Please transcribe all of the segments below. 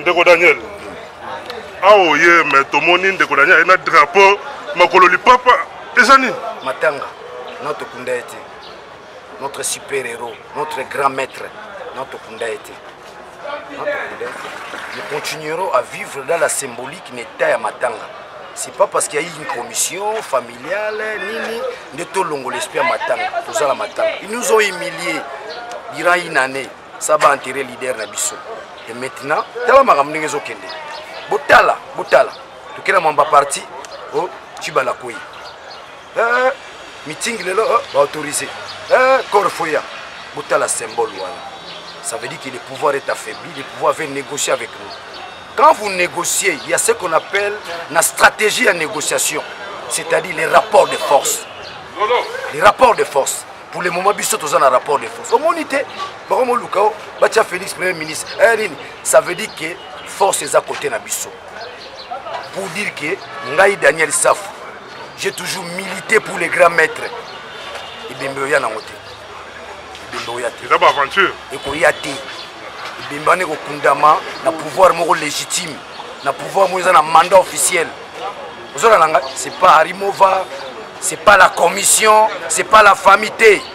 ndeko daniel awa oye me tomoni ndeko daniel aye na drapeau makolo lipapa eza nini matanga notokunda ye te notre super héros notre grand maître notokunda ye te Nous continuerons à vivre dans la symbolique na etat ya matanga c'est pas parce qu'il y a une commission familiale nini nde tolongola esprit ya matanga toza na matanga ils nous ont humilié durant une année ça va enterrer leader na biso et maintenant tala makambo ndenge ezokende botala botala tokenda mwamba parti o oh, cibalakoi eh, mitingi lelo eh, baautorise eh, corfoya botala symbole wana ça veut dire que le pouvoir est affaibli le pouvoir veut négocier avec nous quand vous négociez il y a ce qu'on appelle la stratégie ya négociation c'est-à-dire les rapports de force les rapports de force pour le moment biso toza na rapport de force omoni te bakomoluka o batya félix premier ministre eh, nini ça veut dire que force eza kote na biso pour dire que ngai daniel safu j'ai toujours milité pour les grands maîtres ebembe oya nango te ebembe oya te eza baaventure ekoya te ebembe wana ekokundama na pouvoir moko légitime na pouvoir moko eza na mandat officiel ozolala ngai c'est pas arimova c'est pas la commission c'est pas la famille te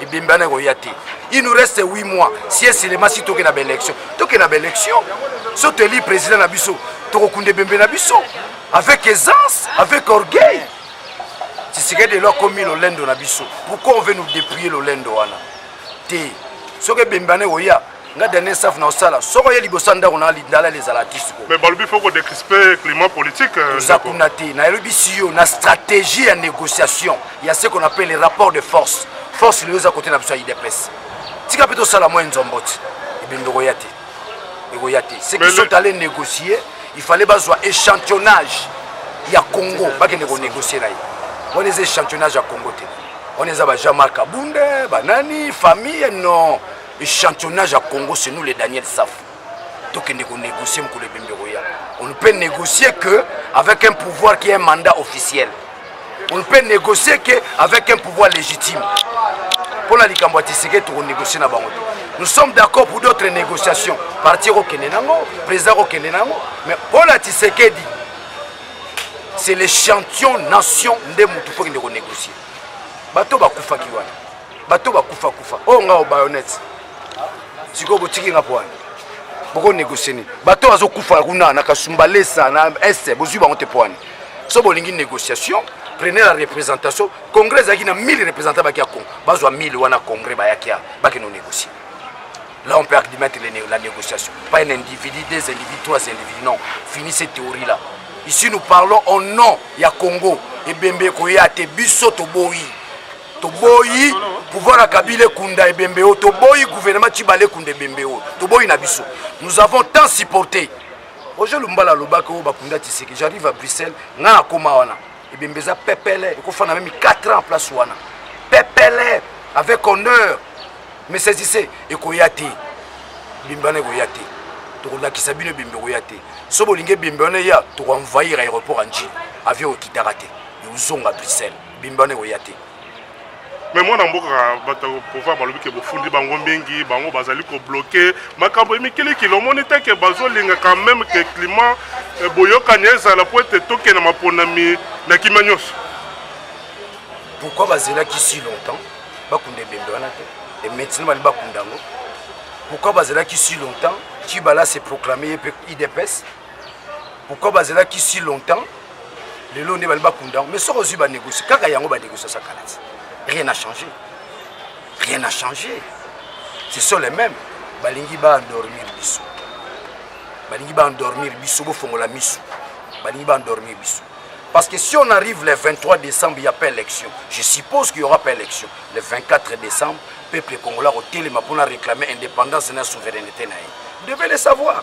ebembe wana ekoya te il nous reste 8 mois si esilema si toke na baélection toke na baélection so toeli président na biso tokokunda ebembe na biso avec aisance avec orgueil tshisekedi elo akomi lolendo na biso pourquoi on veut nous dépouiller lolendo wana te soki ebembe wana ekoya nga dernier staff na osala soko ye liboso ya ndako na lindalala ezala tisiko mais balobi fo kodecrispe climat politique euh, oza kuna te nayelobisi yo na stratégie ya négociation ya ce qu'on appelle rapport de force force lelo eza kote na biso ya idps tika mpe tosala mwa enzombo ti ebembe ekoya te ekoya te ce qui sont allé négocier il fallait bazwa échantillonnage ya congo bakende konégocier na ye wana eza échantillonnage ya congo te wana eza ba jean marc abunde banani famille non Echantillonnage ya Congo, c'est nous les Daniel Saf. tokende konégocier mokolo ebembe koya on ne peut négocier que avec un pouvoir qui est un mandat officiel on ne peut négocier que avec un pouvoir légitime mpo na likambo ya tiseke tokonégocie na bango te nous sommes d'accord pour d'autres négociations parti ekokende nango président ekokende nango mais mpo na tisekedi c'est l'échantillon nation nde motu mpo kende konégocier bato bakufaki wana bato bakufa kufa oyo oh, nga obayonete sikoyo botiki nga poani boko négocie nini bato bazokufa kuna na kasumbalesa na este bozwi bango te poani so bolingi négociation prenez la représentation congrès ezalaki na 1000 représentant baki ya congo bazwa 1000 wana congrès bayaki ya bakende onégocier Là, on peut admettre la négociation. Pas un individu, deux individus, trois individus. Non. Finis cette théorie-là. Ici, nous parlons au nom ya Congo. Et Bembe Koya, te biso to boyi. toboyi pouvoir ya kabila ekunda ebembe oyo toboyi gouvernement cibale ekunda ebembe oyo toboyi na biso nous avons tant supporté roger lumbala alobaki oyo bakunda tiseke j'arrive à bruxelles ngai nakoma wana ebembe eza pepele ekofanda meme 4 ans place wana pepele avec honneur mais saisisse ekoya te ebembe wana ekoya te tokolakisa bino ebembe ekoya te so bolingi ebembe wana eya tokoenvahir aéroport ya njili avion ekitaka te ekozonga bruxelles bimbi wana ekoya te me mwana mboka bato ya pouvoir balobi ke bofundi bango mingi bango bazali kobloke makambo emikilikili omoni te ke bazolinga quand même ke climat eh, boyokani ezala mpo ete tokende maponami na kimia nyonso pourquoi bazelaki si longtemps bakunda ebembe wana te e maintenant bali bakunda yango pourquoi bazelaki si longtemps kibala se proclame ye mpe idps pourquoi bazelaki si longtemps lelo nde bali bakunda yango mais soki ozwi banégocie kaka yango banégocie osa kala ti rien n'a changé rien n'a changé ce sont les mêmes balingi baendormir biso balingi baendormir biso bofongola miso balingi baendormir biso parce que si on arrive le 23 décembre il n'y a pas élection je suppose qu'il n'y aura pas élection le 24 décembre peuple congolais akotelema mpona réclamer indépendance na souveraineté na ye vous devez le savoir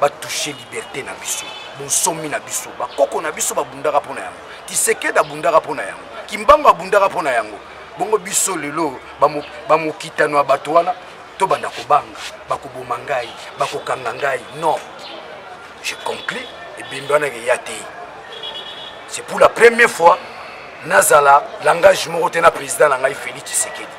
batouche liberte na biso bonsomi na biso bakoko na biso babundaka mpo na yango kisekedi abundaka mpo na yango kimbango abundaka mpo na yango bongo biso lelo bamokitano ya bato wana tobanda kobanga bakoboma ngai bakokanga ngai non je conclus ebembe wana ekeya te c'est pour la première fois nazala langage moko te na président na ngai félix tshisekedi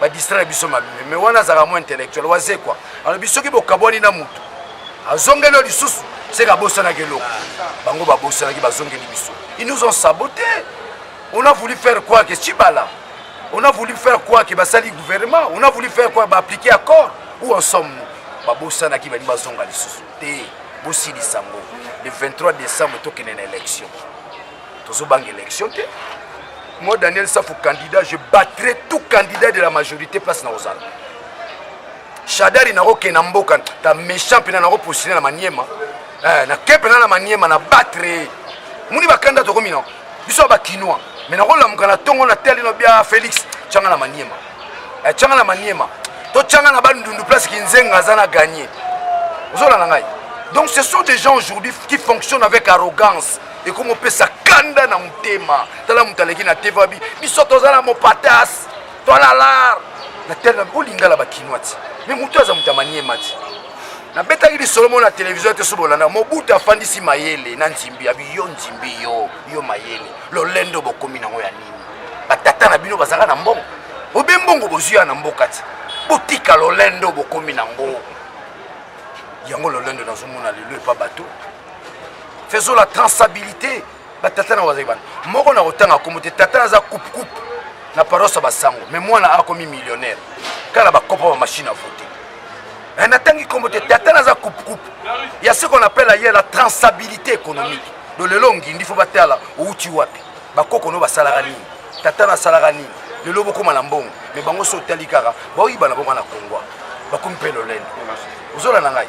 ba distraire biso mabe mais wana azalaka mo intellectuel wazekwa alobi soki bokabwani na motu azongeli yo lisusu seke abosanaki eloko bango babosanaki bazongeli biso ils nous ont saboté on a voulu faire quoi que chibala on a voulu faire quoi que basali gouvernement on a voulu faire quoi baappliquer accord ou ensemble nous babosanaki balingi bazonga lisusu te bosilisa yango le 23 décembre tokende na élection tozobanga élection te moi daniel safu candidat je battrai tout candidat de la majorité place na ozala shadari nakokende na mboka ta méchant mpena nakopostile na maniema eh, nake mpena na maniema na batre moni bakanda tokomi na biso ya bakinois me nakolamuka na ntongo na tali no bia félix tyanga na maniema eh, tyanga na maniema to tyanga na bandundu place kinzenga aza na gagne ozolanda ngai donc ce sont des gens aujourd'hui qui fonctionnent avec arrogance ekomopesa kanda na motema tala moto aleki na te vabi biso toza na mopatas tolalar na tele o lingala bakinwa ti me motu aza moto ya maniema ti nabetaki lisolo moko na televizio te soki bolanda mobutu afandisi mayele na nzimbi abi yo nzimbi yo yo mayele lolendo bokomi nango ya nini batata na bino bazalaka na mbongo obe mbongo bozwi ya na mboka ti botika lolendo bokomi nango yango lolendo nazomona lelo epa bato faisons la transabilité batata na bazali bana moko na kotanga kombo te tata aza coupe coupe na paroisse ya basango me mwana akomi millionnaire kaka na bakopo ba machine à voter eh, natangi kombo te tata naza coupe coupe ya ce qu'on appelle aye la transabilité économique do lelo ngindi fo batala outi wapi bakoko no basalaka nini tata nasalaka nini lelo bokoma na mbongo me bango so otali kaka baoyibana bonga na kongwa bakomi mpe lolendo ozola na ngai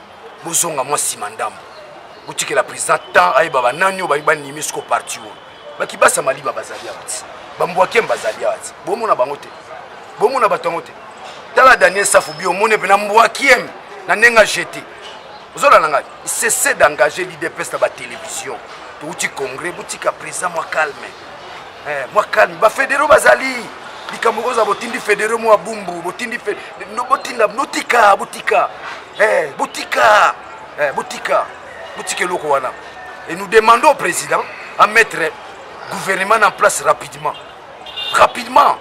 bozonga mwa nsima ndambo botikela président temps ayeba banani oyo bayi banimi siko parti oyo bakibasa maliba bazali awa ti bambwakem bazali awa ti bomona bango te bomona bato yango te tala daniel safu bi omoni mpe na mbwakiem na ndenge ajete ozolanda ngai cesse d'engager l'idps na batélévision touti congrès botika président mwa calme eh, mwa calme bafedero bazali likambo kozala botindi federo mwa bumbu botindi botinda botika botika Eh, botika eh, botika botika eloko wana et nous demandons au président à mettre gouvernement en place rapidement rapidement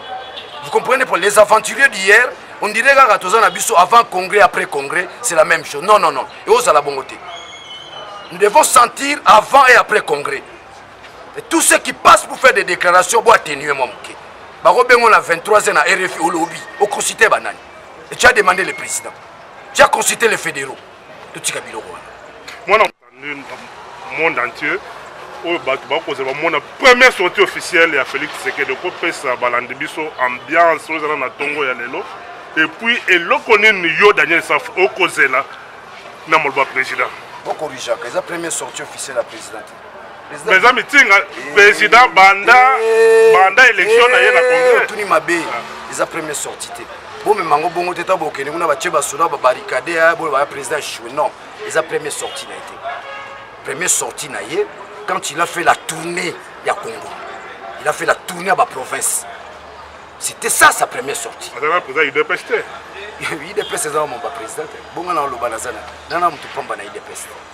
vous comprenez pour les aventuriers d'hier on dirait kaka toza na biso avant congrès après congrès c'est la même chose non non non et ozala bongo te nous devons sentir avant et après congrès et tous ceux qui passent pour faire des déclarations bo atténuer mwa moke bakobengo na 23 ans na rfi olobi okosite banani et tu as demandé le président tu as consulté les fédéraux totika biloko wana mwana monde entier oyo bato bakozala bamona première sortie officielle ya félix tshisekedi okopesa balandi biso ambiance oyo ezala na ntongo ya lelo epuis eloko nini yo daniel safu okozela na maloba président bokorijaka eza première sortie officielle ya président eza mitinga président banda eh, banda élection na ye na eh, congrès otuni mabe ah. eza premier sortie te bomema yango bongo te ntango bokende kuna batie basoda babarikade ya boye baya président echue non eza premier sortie na ye te premier sortie na ye quand il a fait la tournée ya congo il a fait la tournée ya baprovince c'était ça sa première sortie azalaka président udps te udps eza mambo ya président te bongo na oloba naza na nana moto pamba na udps te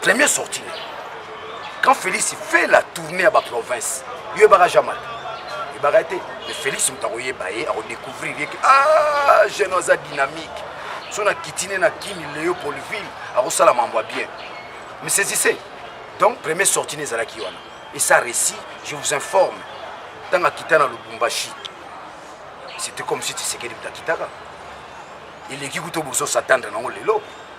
Premier sorti ne. Quand Félix fait la tournée à ba province, yo ebaka jamais. Ebaka te, mais Félix moto akoyeba ye, akodécouvrir ye que ah jeune aza dynamique. So na kitine na Kimi Léopoldville, akosala mambo ya bien. Mais saisissez. Donc premier sorti ne ezalaki wana. Et ça récit, je vous informe. Tanga kita na Lubumbashi. C'était comme si Tshisekedi moto akitaka. eleki kuta obozo satandre nango lelo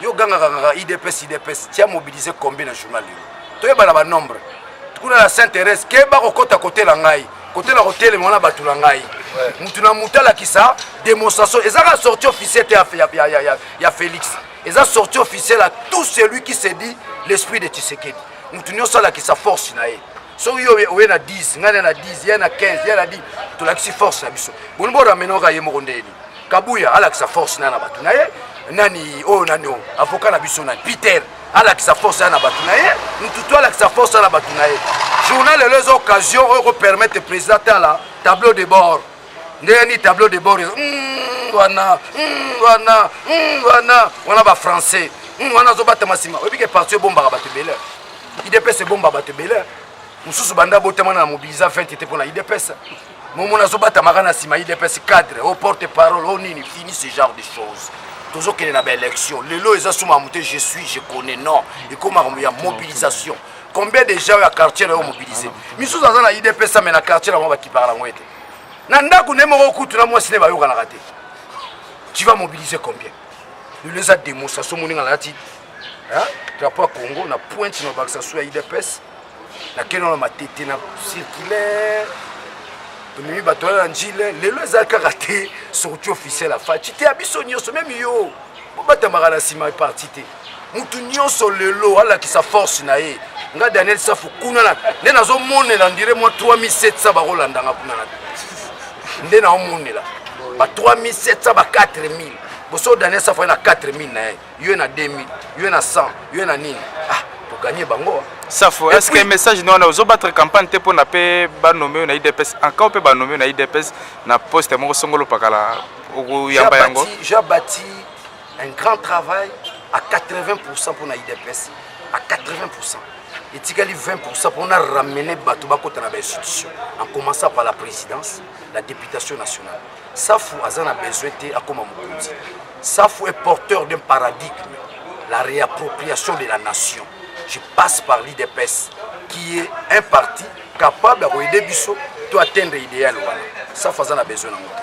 yo gangaka kaka idps idps tia mobilise combien na journal lelo toyeba na banombre kuna na saint thérèse keba kokɔta kote na ngai kote na kotelema wana bato na ngai motu na motu alakisa démonstration eza kaka sortie officielle te ya, ya, ya, ya, ya félix eza sortie officielle à tout celui qui se dit l'esprit de tshisekedi motu nyonso alakisa force na ye soki yo oye na 10 ngai na na 10 ye na 15 ye na 10 tolakisi force na biso boni bo ramenoka ye moko ndeni kabuya alakisa force na na bato na ye nani oyo nani oyo avoka na biso nani peter alakisa force ya na bato na ye ntutu alakisa force ya na bato na ye journal elo eza occasion oyo ekopermettre président tala tableau de bord ndenge ni tableau de bord ezo mm, wana mm, wana mm, wana wana ba français wana azobatama nsima oyebi ke parti ebombaka bato ebele idps ebomba bato ebele mosusu banda botamana na mobilisa 20 te mpo na idps momona azobatamaka na nsima idps cadre o porte parole o nini fini ce genre de choses tozokende na baélection lelo eza suma moto je suis je connais non ekomaka ya mobilisation combien de gens ya quartier na yo mobilise misusu aza na idps ame na quartier na bango bakipaka na yango ete na ndako ne moko kutu na mwasi ne bayokanaka te tu vas mobiliser combien lelo eza démonstration moninga nalati drapeau ya congo na pointe na bakisa su ya idps nakende wana matete na circulaire tomemi bato wana na njile lelo eza kaka te sorti officiel ya faci te ya biso nyonso meme yo bobatamaka na nsima ya parti te motu nyonso lelo alakisa force na ye nga daniel safu kuna na nde nazomonela ndire mwa 3700 bakolanda nga kuna na nde naomonela ba 3700 ba 4000 boso daniel safu aye na 4000 na ye yo na 2000 yo na 100 yo na nini ah toganye bango safo est ce que message na wana ozobattre campagne te mpona mpe banome oyo na idps ankao mpe banome oyo na idps na poste moko songolo pakala okoyamba yango jabati un grand travail à 80% pour na IDPS à 80% etikali 20% pour na ramener bato bakota na bainstitution en commençant par la présidence la députation nationale safu aza na besoin te akoma mokonzi safu est porteur d'un paradigme la réappropriation de la nation je passe par l'IDPS qui est un parti capable ya koyede biso to atteindre idéal wana safu aza na besoin na moto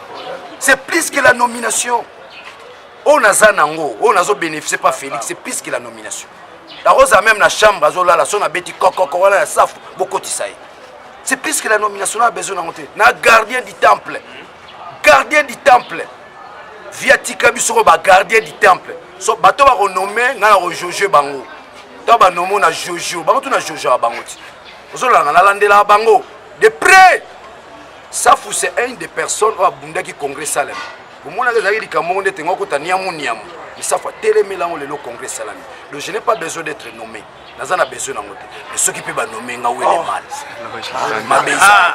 c'est plus que la nomination oyo naza nango oyo nazo bénéficie pas félix c'est plus que la nomination nakozala même na chambre azolala so nabeti kokoko wana ya safu bokotisa ye c'est plus que la nomination na besoin nango te na gardien du temple gardien du temple via tika biso ko bagardien du temple so bato bakonome ngai na kojoje bango to banome na jojo bango tu na jojo ya bango ti ozolanga nalandelaka bango de près safu c'est un des personnes oyo abundaki congrès salem omonaka ezalaki likambo moko ndete ngo akota niamu niamu misafu atelemela yango lelo congrès esalami donc je n'ai pas besoin d'être nommé naza na besoin nango te mais soki mpe banome nga wele oh. mal mabe ah.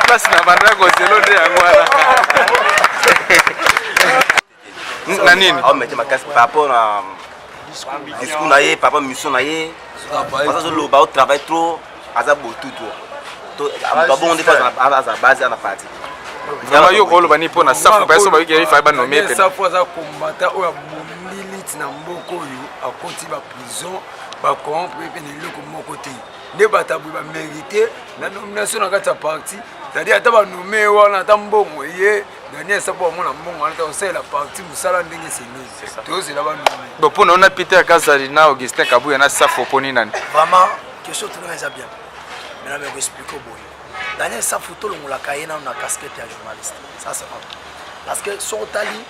place na bandako zelo nde yango wana na nini aomete makasi par rapport na discours na ye par rapport mission na ye aza azoloba o travail trop aza botutu babongo nde aza base ana parti vraiment yo koloba nini mpo na safu bayeso bayoki yaifa ye banome epena safu aza kombata oyo abomi liti na mboka oyo akoti baprison bacorrompre mpe na eloko moko te nde bato aboye bamerite na nomination na kati ya parti c'est-à-dire ata banome wana ata mbongo eye Daniel Sapo amona mbongo wana ta osalela parti mosala ndenge esengeli tozela banduki bon mpo na yo na peter kazali na augustin kabuya na safo mpo nini nani vraiment question tuna eza bien mais na meko explike boye daniel safu tolongolaka ye nano na casquette ya journaliste ça c'est vrai parce que soki otali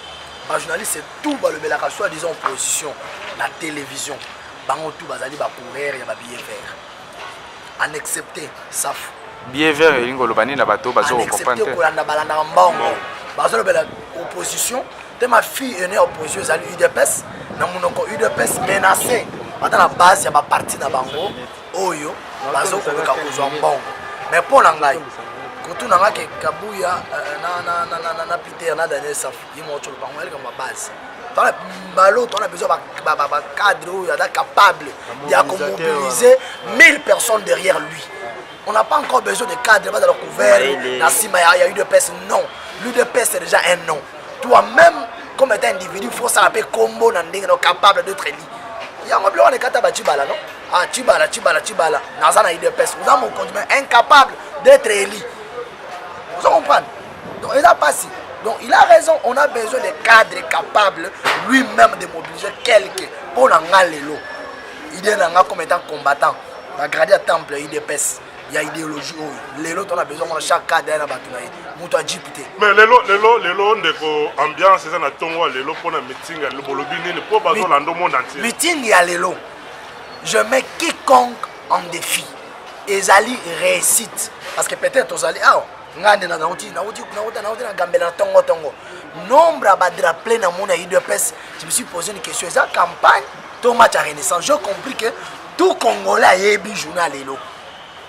bajournaliste tout balobelaka soit disant opposition na télévision bango tout bazali bacoureur ya babillet vert en excepte safu behavior elingi koloba nini na bato bazokoprendre te kolanda balandaka mbongo bazolobela opposition te ma fille ene opposition ezali udps na monoko udps menacé ata na base ya baparti na bango oyo bazokoluka kozwa mbongo mais mpo na ngai kotuna nga ke kabuya euh, na, na, na, na, na, na peter na daniel safu ye moko toloba yango ya likambo ya base tona balo tona besoin bacadre oyo aza capable ya komobiliser 1000 personnes derrière lui on n'a pas encore besoin de cadre bazala couvert na nsima ya udps non l'udps c'est déjà un nom toi-même comme étant individu faut osala mpe combo na ndenge no capable d'être élu yango biloko nekata bacibala no ah cibala cibala cibala naza na udps oza mokonzi mais incapable d'être élu ozo comprendre donc eza pasi donc il a raison on a besoin de cadre capable lui-même de mobiliser quelque mpo na nga lelo idée na nga comme étant combattant bagradi ya temple ya idps ya idéologie oyo lelo tona besoin mona chaque cadre ya na bato na ye moto ajipe te mais lelo lelo lelo ndeko ambiance eza na ntongo ya lelo mpo na meeting ya lelo bolobi nini mpo bazolanda monde entier meeting ya lelo je mets quiconque en défi ezali réussite parce que peut-être tozali awa ngai nde nauti nauti nauta nauti na gambela na tongo tongo nombre ya badraple na mona udps je me suis posé une question eza campagne to match ya renaissance je compris que tout congolais ayebi journal lelo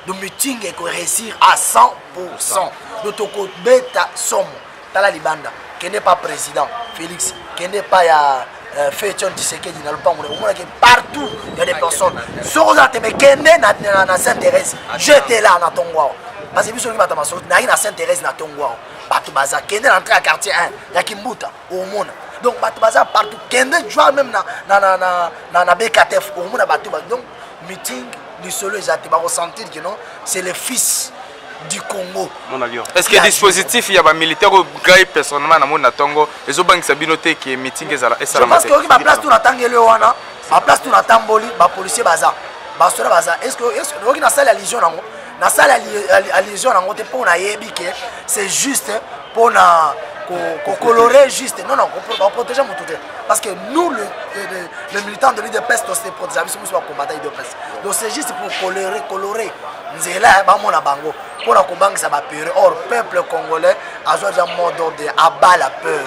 do meeting ekoreusir à 100 pourcent do tokobeta somo tala libanda kende pa president felix kende pa ya euh, fetion tisekedi na lopango na omonaki partout ya des personnes soki ozala tembe kende na saint thérèse jete la na tongo awa parce que biso oki bato masolo nayaki na saint thérèse na tongo awa bato baza kende na entrée ya quartier 1 ya kimbuta omona donc bato baza partout kende joi même na, na, na, na, na, na bktf omona bato donc meeting lisolo eza te bakosentir kino c'est le fils du congo est ce que dispositif ya bamilitaire oyo ngai personnellement namoni na ntongo ezobangisa bino te ke meeting ezala esalamaoki baplace to natangeli wana baplace to natamboli bapolicier baza basoda baza oyoki nasali allusion yango nasali allusion yango te mpo nayebi ke c'est juste mpo na kocolore juste non non baprotege motu te parce que nous le, le, le militant de l'idps tose protégea biso biso bakombata idps donc c'est juste pour colore colore nzela ya bamona bango mpo na kobangisa bapere or peuple congolais azwa deja mot d'ordre aba la peur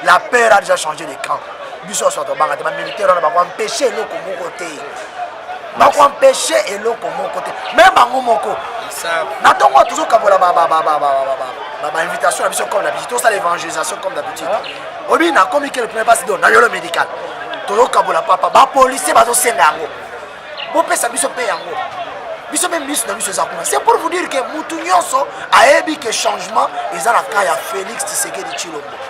la peur a déjà changé de camp biso nyonso tobanga te bamilitaire wana bakoempeshe eloko moko te bako empeshe eloko moko te me bango moko na ntongo oyo tozokabola bainvitation na biso comme d'habitude tosala évangélisation comme d'habitude ah. obi nakomi ke le premier basi do na yolo médical tozokabola papa bapolicier bazosenga yango bopesa biso mpe yango biso mpe miso na biso eza kuna c'est pour vous dire ke motu nyonso ayebi ke changement eza na cas ya félix tisekedi tshilombo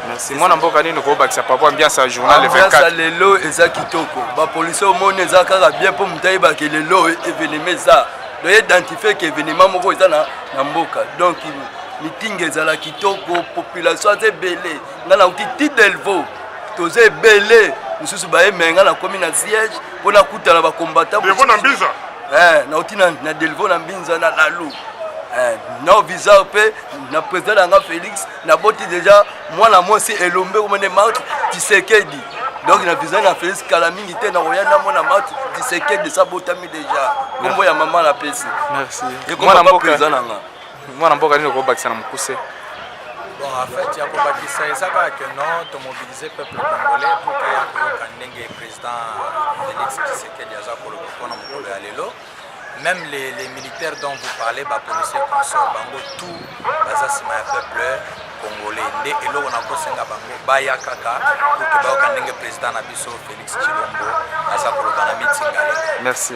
Merci. Mwana mboka nini okobakisa papa ambiance ya journal le 24. Ambiance ya lelo eza kitoko. Ba policiers omoni eza kaka bien mpo moto ayeba ke lelo evenement eza. Donc identifier ke evenement moko eza na, na mboka. Donc mitingi ezala kitoko, population aza ebele. Nga nauti ti Delvaux toza ebele mosusu baye me nga nakomi na siège mpo nakutana bakombata delvo na mbinza eh, nauti na, na delvo na mbinza na lalu eh, na visa mpe na président na nga félix naboti deja mwana mwasi elombe komene mark tisekedi donc na visa na felisi kala mingi te nakoya na mwana mark tisekedi sabotami deja kombo ya mama na pesi ekomana nanga mwana mboka nini okobakisa na mokuse Bon, en fait, Yako Bakissa et ça va que non, tu mobilises le peuple congolais pour que Yako Kandenge, président Félix Tshisekedi, Azakolo, pour qu'on en Même les, les militaires dont vous parlez, ba policiers consorts, bango tout baza sima ya peuple congolais. Nde eloko na kosenga bango baya kaka pour que bayoka ndenge président na biso Félix Tshilombo aza koloba na mitinga lelo. Merci.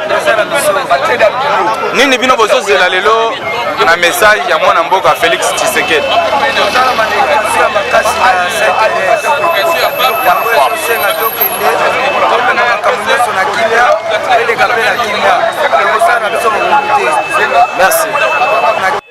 nini bino bozozela lelo na message ya mwana mboka félix tshisekedi merci